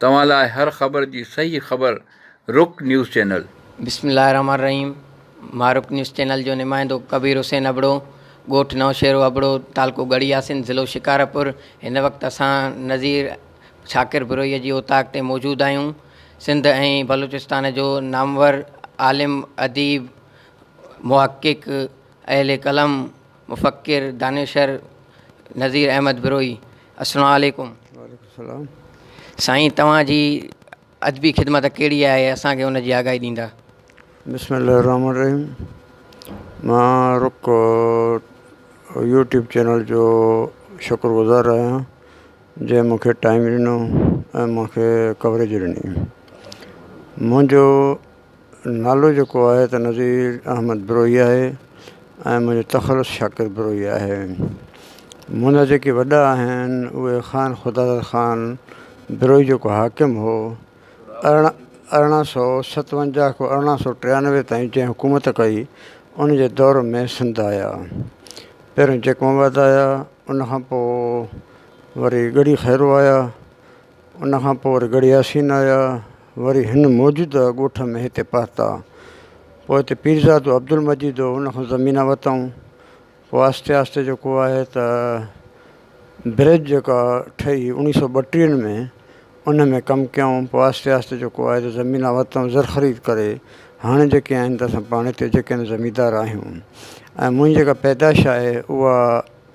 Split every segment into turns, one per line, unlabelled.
توهان لاء هر خبر جي صحيح خبر رڪ نيوز چينل. بسم الله الرحمٰن الرحيم
مان رڪ نيوز چينل جو نمائندو ڪبير حسين ابڙو ڳوٺ نوشهرو ابڙو تعلقو ڳڙهي آسين ضلعو شڪارپور هن وقت اسان نظير شاڪر بروهيء جي اوطاق تي موجود آهيون سنڌ ۽ بلوچستان جو نامور عالم اديب محقق اهل قلم مفڪر دانشور نظير احمد بروهي السلام عليڪم
سائين
توهان جي ادبي خدمت ڪهڙي آهي اسانکي ان جي آگاهي ڏيندا بسم الله الرحمن
الرحيم مان رڪ يوٽيوب چينل جو شڪر گذار آهيان جنهن مونکي ٽائيم ڏنو ۽ مونکي ڪوريج ڏني منهنجو نالو جيڪو آهي ته نظير احمد بروهي آهي ۽ منهنجو تخلص شاڪر بروهي آهي منهنجا جيڪي وڏا آهن اهي خان خداداد خان بروهي جيڪو حاڪم هو ارڙهن ارڙهن سو ستونجاهه کان ارڙهن سو ٽيانوي تائين جنهن حڪومت ڪئي انجي دور ۾ سنڌ آيا پهريون جيڪب آباد آيا ان کان پوء وري ڳڙهي خيرو آيا ان کان پوء وري ڳڙهي ياسين آيا، وري هن موجوده ڳوٺ ۾ هتي پهتا. پوء هتي پيرزادو عبدالمجيد هو، ان کان زمينا ورتائون. پوء آهستي آهستي جيڪو آهي ته برج جيڪا ٺهي اوڻيهه سؤ ٻٽيهه ۾ ان ۾ ڪم ڪيائون. پوء آهستي آهستي جيڪو آهي ته زمينا ورتائون زر خريد ڪري. هاڻي جيڪي آهن ته اسان پاڻ هتي جيڪي آهن زميندار آهيون ۽ منهنجي جيڪا پيدائش آهي اها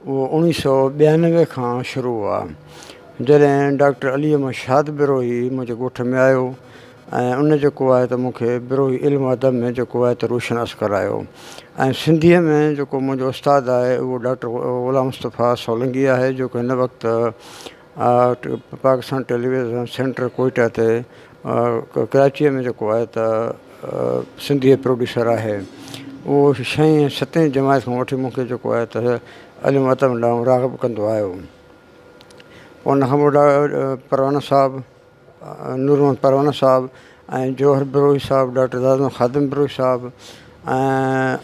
اوڻيھ سؤ ٻيانوي کان شروع هئا جڏهن ڊاڪٽر علي احمد شاد بروهي منهنجي ڳوٺ ۾ آيو ۽ ان جيڪو آهي ته مون کي بروهي علم ادب ۾ جيڪو آهي ته روشناس ڪرايو ۽ سنڌيء ۾ جيڪو منهنجو استاد آهي اهو ڊاڪٽر غلام مصطفيٰ سولنگي آهي جيڪو هن وقت پاڪستان ٽيليويزن سينٽر ڪوئيٽا تي ڪراچيء ۾ جيڪو آهي ته سنڌيء پروڊيوسر آهي اهو شئين ۽ ستين جماعت کان وٺي مون کي جيڪو آهي ته علم ادب ڏانهن راغب ڪندو آيو ان کان پوء پروانه صاحب نور محمد پروڻ صاحب ۽ جوهر بروهي صاحب ڊاڪٽر دادو خادم بروهي صاحب ۽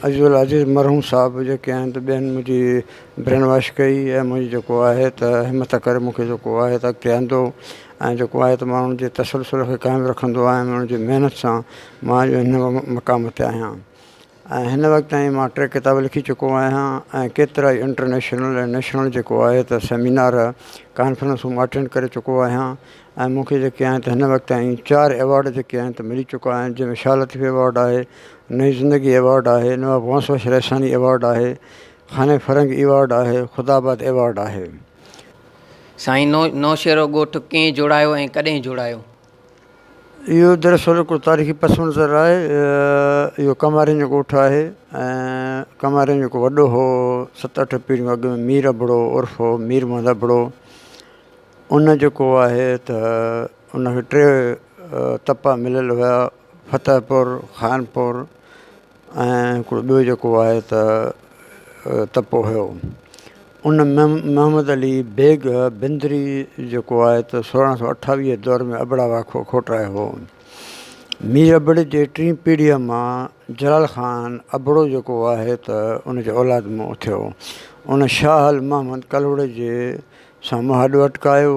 عزيز عزيز مرحوم صاحب جيڪي آهن ته ٻين منهنجي برين واش ڪئي ۽ منهنجي جيڪو آهي ته همٿ ڪري مون کي جيڪو آهي ته اڳتي آندو ۽ جيڪو آهي ته ماڻهن جي تسلسل کي قائم رکندو آهيان انهن جي محنت سان مان اڄ هن مقام تي آهيان ۽ هن وقت تائين مان ٽي ڪتاب لکي چڪو آهيان ۽ ڪيترائي انٽرنيشنل ۽ نيشنل جيڪو آهي ته سيمينار ڪانفرنسون مان اٽينڊ ڪري چڪو آهيان ۽ مون کي جيڪي آهن ته هن وقت تائين چار ايوارڊ جيڪي آهن ته ملي چڪا آهن جنهن ۾ شاهه لطيف ايوارڊ آهي نئين زندگي ايوارڊ آهي نواب غوث بخش رئيساڻي ايوارڊ آهي خانه فرنگ ايوارڊ آهي خدا آباد ايوارڊ آهي.
سائين نو نوشهرو ڳوٺ ڪئين جوڙايو ۽ ڪڏهن جوڙايو؟
اهو دراصل هڪڙو تاريخي پس منظر آهي اهو ڪنوارين جو ڳوٺ آهي ۽ ڪنوارين جيڪو وڏو هو ست اٺ پيڙهيون اڳ ۾ مير ابڙو عرف هو مير محمد ابڙو ان جيڪو آهي ته ان کي ٽي تپا مليل هيا فتح پور خانپور ۽ هڪڙو ٻيو جيڪو آهي ته تپو هيو ان محمد علي بيگ بندري جيڪو آهي ته سورهن سو اٺاويهه دور ۾ ابڙا واکو کوٽرايو هو مير ابڙ جي ٽي پيڙهيء مان جلال خان ابڙو جيڪو آهي ته ان جي اولاد مون اٿيو ان شاهه المحمد ڪلهوڙي جي سان مهاڏو اٽڪايو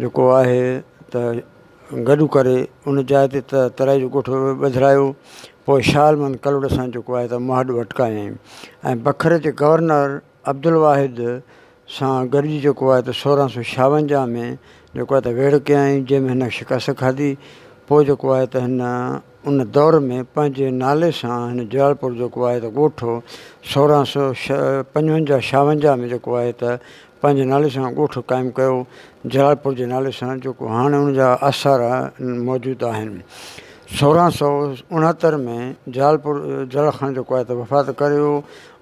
جيڪو آهي ته گڏ ڪري ان جاء تي ته ترائي جو ڳوٺ ٻڌرايو پوء شاهه المن ڪلهوڙي سان جيڪو آهي ته مهاڏ وٽڪايائين ۽ بکر جي گورنر عبدالواحد سان گڏجي جيڪو آهي ته سورهن سو شاونجاهه ۾ جيڪو آهي ته ويڙهه ڪيائين جنهن ۾ هن شڪست کاڌي پوء جيڪو آهي ته هن ان دور ۾ پنهنجي نالي سان هن جلالپور جيڪو آهي ته ڳوٺ هو سورهن سؤ پنجونجاهه شاونجاهه ۾ جيڪو آهي ته پنهنجي نالي سان ڳوٺ قائم ڪيو جلالپور جي نالي سان جيڪو هاڻي ان جا آثار موجود آهن سورهن سؤ اڻهتر ۾ جلالپور جلال خان جيڪو آهي ته وفات ڪري ويو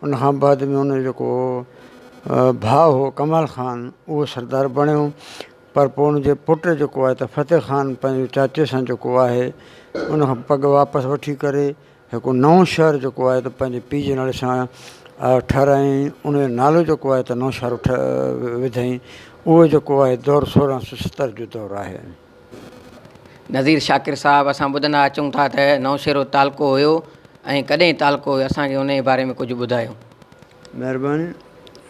ان کان بعد ۾ ان جو جيڪو ڀاء هو ڪمال خان اهو سردار بڻيو پر پوء ان جي پٽ جيڪو آهي ته فتح خان پنهنجي چاچي سان جيڪو آهي ان کان پڳ واپس وٺي ڪري هڪ نئون شهر جيڪو آهي ته پنهنجي پيء جي نالي سان ٺهرايائين ان جو نالو جيڪو آهي ته نوشهرو وڌائين اهو جيڪو آهي دور سورهن سو ستر جو دور آهي.
نذير شاڪر صاحب اسان ٻڌندا اچون ٿا ته نوشهرو تعلقو هيو ۽ ڪڏهن تعلقو هيو اسان کي ان جي باري ۾ ڪجهه ٻڌايو. مهرباني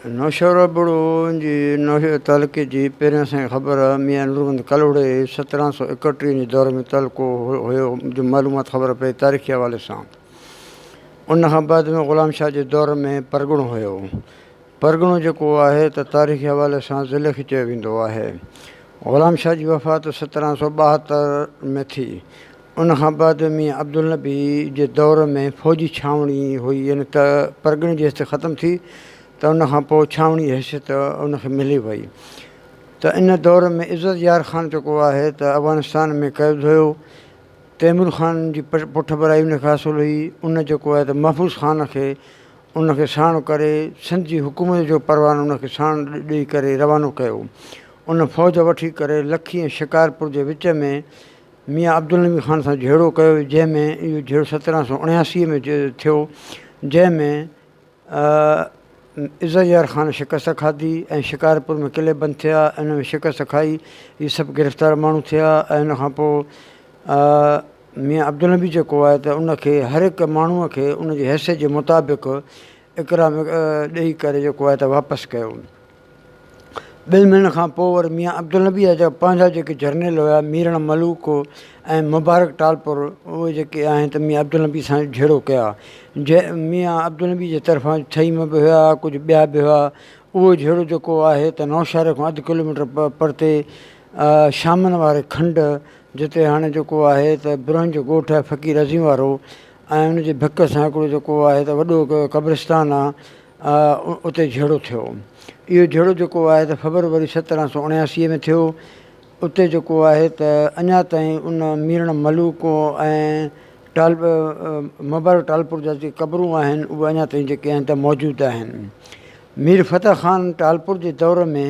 نوشهرو ابڙو جي نوشهرو تعلقي جي پهرين اسانکي خبر ميان نورمحمد ڪلهوڙي سترهن سؤ ايڪٽيهه جي دور ۾ تعلقو هيو جو معلومات خبر پئي تاريخي حوالي سان ان کان بعد ۾ غلام شاهه جي دور ۾ پرڳڻو هيو پرڳڻو جيڪو آهي ته تاريخي حوالي سان ضلعي کي چيو ويندو آهي غلام شاهه جي وفات سترهن سؤ ٻاهتر ۾ ٿي ان کان بعد ميان عبدالنبي جي دور ۾ فوجي ڇانوڻي هئي يعني ته پرڳڻي جي حيثيت ختم ٿي ته ان کان پوء ڇانوڻي حيثيت ان کي ملي وئي ته ان دور ۾ عزت يار خان جيڪو آهي ته افغانستان ۾ قيد هيو تيمور خان جي پٺڀرائي ان کي حاصل هئي ان جيڪو آهي ته محفوظ خان کي ان کي ساڻ ڪري سنڌ جي حڪومت جو پروانو ان کي ساڻ ڏئي ڪري روانو ڪيو ان فوج وٺي ڪري لکي ۽ شڪارپور جي وچ ۾ ميان عبدالنبي خان سان جهيڙو ڪيو جنهن ۾ اهو جهيڙو سترهن سؤ اڻياسي ۾ ٿيو جنهن ۾ عزت يار خان شڪست کاڌي ۽ شڪارپور ۾ قلعي بند ٿيا ان ۾ شڪست کائي هي سڀ گرفتار ماڻهو ٿيا ۽ ان کان پوء ميان عبدالنبي جيڪو آهي ته ان کي هر هڪ ماڻهو کي ان جي حيثيت جي مطابق اڪرام ڏئي ڪري جيڪو آهي ته واپس ڪيو ٻن مهينن کان پوء ور ميان عبدالنبيء جا پنهنجا جيڪي جرنيل هيا، ميرڻ ملوڪ ۽ مبارڪ ٽالپر، اهي جيڪي آهن ته ميان عبدالنبيء سان جهيڙو ڪيا. ميان عبدالنبيء جي طرفان ڇهي م به هيا، ڪجهه ٻيا به هيا. اهو جهيڙو جيڪو آهي ته نوشهري کان اڌ ڪلوميٽر پرتي شامن واري کنڊ، جتي هاڻي جيڪو آهي ته برهن جو ڳوٺ آهي فقير عظيم وارو ۽ ان جي ڀڪ سان هڪڙو جيڪو آهي ته وڏو قبرستان آهي. اتي جهيڙو ٿيو. اهو جهيڙو جيڪو آهي ته فبروري سترهن سؤ اڻياسي ۾ ٿيو. اتي جيڪو آهي ته اڃا تائين ان ميرڻ ملوڪ ۽ مبارڪ ٽالپور جا جيڪي قبرون آهن اهي اڃا تائين جيڪي آهن ته موجود آهن. مير فتح خان ٽالپور جي دور ۾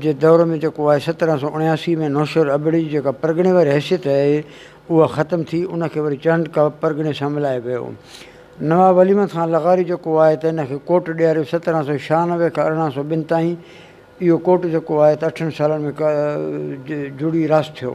جي دور ۾ جيڪو آهي سترهن سؤ اڻياسي ۾ نوشهر ابڙي جي جيڪا پرڳڻي واري حيثيت آهي اها ختم ٿي ان کي وري چهنڊڪا پرڳڻي سان ملايو ويو نواب علي محمد خان لغاري جيڪو آهي ته ان کي ڪوٽ ڏياريو سترهن سؤ ڇهانوي کان ارڙهن سؤ ٻن تائين اهو ڪوٽ جيڪو آهي ته اٺن سالن ۾ جڙي راس ٿيو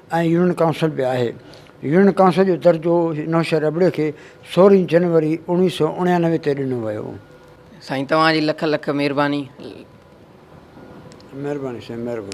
۽ يونين ڪائونسل به آهي. يونين ڪائونسل جو درجو نوشهر ابڙي کي سورهين جنوري اوڻويهه سؤ اڻيانوي تي ڏنو ويو. سائين توهان
جي لک
لک
مھرباني.
مھرباني
سائين مھرباني.